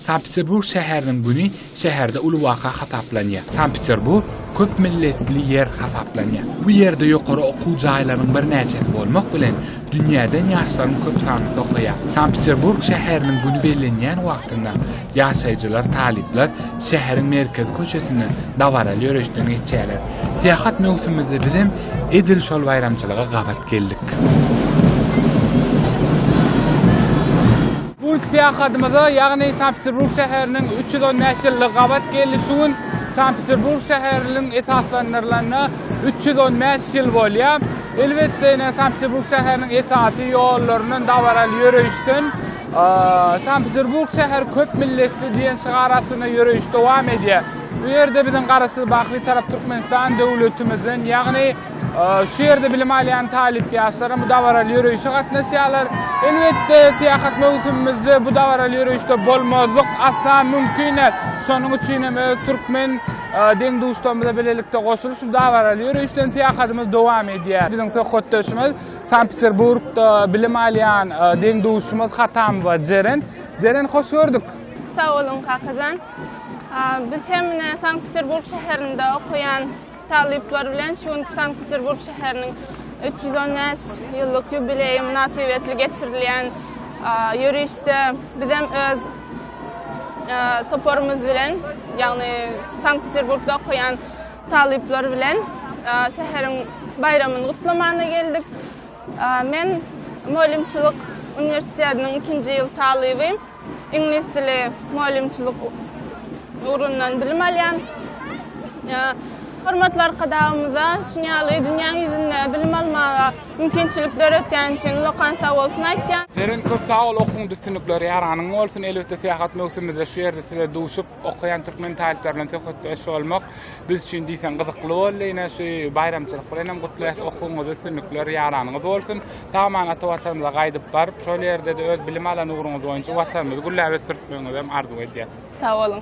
Sankt-Peterburg şäheriniň güni şäherde uly waka hasaplanýar. Sankt-Peterburg köp milletli ýer hasaplanýar. Bu ýerde ýokary okuw jaýlarynyň birnäçesi bolmak bilen, dünýäden ýaşlaryň köp sanlysy okaýar. Sankt-Peterburg şäheriniň güni bellenýän wagtynda ýaşaýjylar, talyplar şäheriň merkezi köçesinden dabaraly ýöreşden geçýärler. Syýahat möwsümimizde biz hem edil şol baýramçylyga gabat geldik. Bu günki syýahatymyza, ýagny Sankt-Peterburg şäheriniň üç ýüz on bäş ýyllyk gabat geldi. Şu gün Sankt-Peterburg şäheriniň esaslandyrylanna üç ýüz on bäş ýyl bolýar. Elbetde, ine, Sankt-Peterburg şäheriniň esasy ýollaryndan, dabaraly ýöreýişden. Sankt-Peterburg şäheri köp milletli diýen şygar astynda ýöreýiş dowam edýär. Bu ýerde biziň Garaşsyz, Baky Bitarap Türkmenistan döwletimizden, ýagny Şu ýerde bilim alýan talyp ýaşlaram bu dabaraly ýöreýişe gatnaşýarlar. Elbetde, syýahat möwsümimizde bu dabaraly ýöreýişde bolmazlyk asla mümkin däl. Şonuň üçin hem öz türkmen deň-duşlarymyz bilen bilelikde goşulyp, şu dabaraly ýöreýişden syýahadymyzy dowam edýäris. Biziň söhbetdeşimiz Sankt-Peterburgda bilim alýan deň-duşumyz Hatamowa Jeren. Jeren, hoş gördük. Sag boluň, kakajan. Biz hem ine Sankt-Peterburg şäherinde okaýan Talyplar bilen şu günki Sankt-Peterburg şäheriniň üç ýüz on bäş ýyllyk ýubileýi mynasybetli geçirilýän ýörişde bizem öz toparymyz bilen, ýagny Sankt-Peterburgda okaýan talyplar bilen şäheriň baýramyny gutlamana geldik. Men mugallymçylyk uniwersitetiniň ikinji ýyl talyby. Iňlis dili mugallymçylyk ugrundan bilim alýan hormatly Arkadagymyza şuny ýaly dünýäň ýüzünde bilim almaga mümkinçilik döretýäni üçin ulakan sag bolsun aýtýan. Zerine köp sag bol okuň düstinlikleri ýaranyň bolsun elbetde syýahat möwsümimizde şu ýerde size duşup Okaýan türkmen talyplar bilen söhbetdeş bolmak biz üçin diýseň gyzykly boldy. Ine şu baýramçylyk bilen hem gutlaýas. Okuwyňyz üstünlikler ýaranyňyz bolsun. Sag-aman ata watanymyza gaýdyp baryp, şol ýerde-de öz bilim alan ugruňyz boýunça watanymyzy gülläp ösdürtmegiňizi hem arzuw edýäs. Sag boluň.